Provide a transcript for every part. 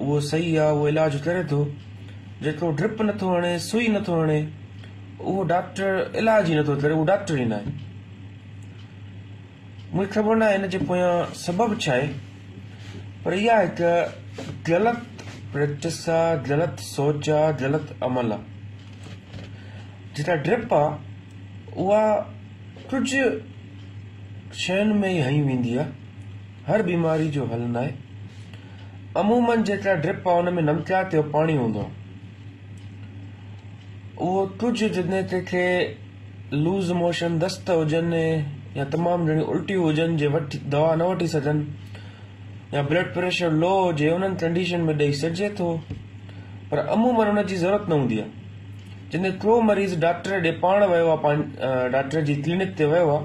اهو صحيح آ اهو علاج ڪري ٿو جيڪو ڊرپ نٿو هڻي سوئي نٿو هڻي اهو ڊاڪٽر علاج ئي نٿو ڪري اهو ڊاڪٽر ئي ناهي مونکي خبر ناهي هن جي پويان سبب ڇا آهي پر اها هڪ غلط پريڪٽس آ غلط سوچ آ غلط عمل آ جيڪا ڊرپ آ اها ڪجهه شين ۾ ئي هنئي ويندي آ هر بيماري جو حل ناهي عمومن جيڪا ڊرپ آهي ان ۾ نمڪيات جو پاڻي هوندو آهي اهو ڪجهه جڏهن ڪنهن کي لوز موشن دست هجن يا تمام جهڙي الٽيون هجن جي وٺ دوا نه وٺي سگهن يا بلڊ پريشر لو هجي انهن ڪنڊيشن ۾ ڏيئي سگهجي ٿو پر عمومن ان جي ضرورت نه هوندي آهي جڏهن ڪو مريض ڊاڪٽر ڏي پاڻ ويو آهي ڊاڪٽر جي ڪلينڪ تي ويو آهي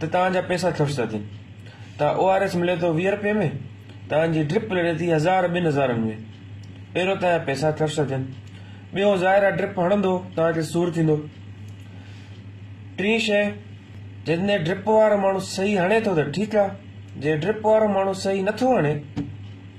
ته توهان جا پئسا خرچ ٿا ٿين ته او آر ايس ملي ٿو ويهه رپئي ۾ توهان جي ڊرپ لڙي ٿي هزار ٻن هزارن ۾ پهريون توهان جا پئسا خرچ ٿا ٿين ٻيو ظاهر آهي ڊرپ هڻندو توهان کي سور ٿيندو ٽين شي جڏهن ڊرپ وارو ماڻهو صحيح هڻي ٿو ته ٺيڪ آهي جي ڊرپ وارو ماڻهو صحيح نٿو هڻي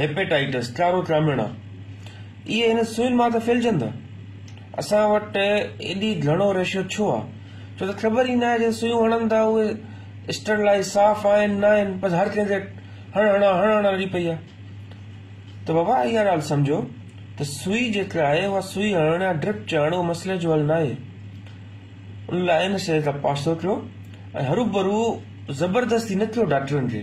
هيپيٽائيٽس ٽارو ٽراميڻا اهي هن سوين مان ته ڦهلجندا اسان وٽ ايڏي گهڻو ريشو ڇو آ ڇو ته خبر ئي ناهي جن سويون هڻن ٿا اهي اسٽرلائيز صاف آهن ناهن بس هر ڪنهن کي هڻ هڻا هڻ هڻا لڳي پئي آ ته بابا اها ڳالهه سمجهو ته سوئي جيڪا آهي اها سوئي هڻڻ يا ڊرپ چهڻ اهو مسئلي جو حل ناهي ان لاء ان شيء کان پاسو ڪيو ۽ هروڀرو زبردستي نه ڪيو ڊاڪٽرن کي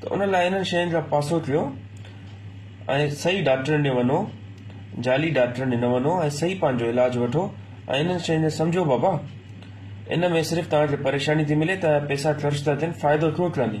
ته ان لاء انهن شين کان پاسو ٿيو ۽ صحيح ڊاڪٽرن ڏي وڃو جعلي ڊاڪٽرن ڏي نه وڃو ۽ صحيح پنهنجو علاج وٺو ۽ انهن شين کي سمجهو بابا ان ۾ صرف توهان کي پريشاني ٿي ملي توهان جا پئسا خرچ ٿا ٿين فائدو ٿو ٿئني.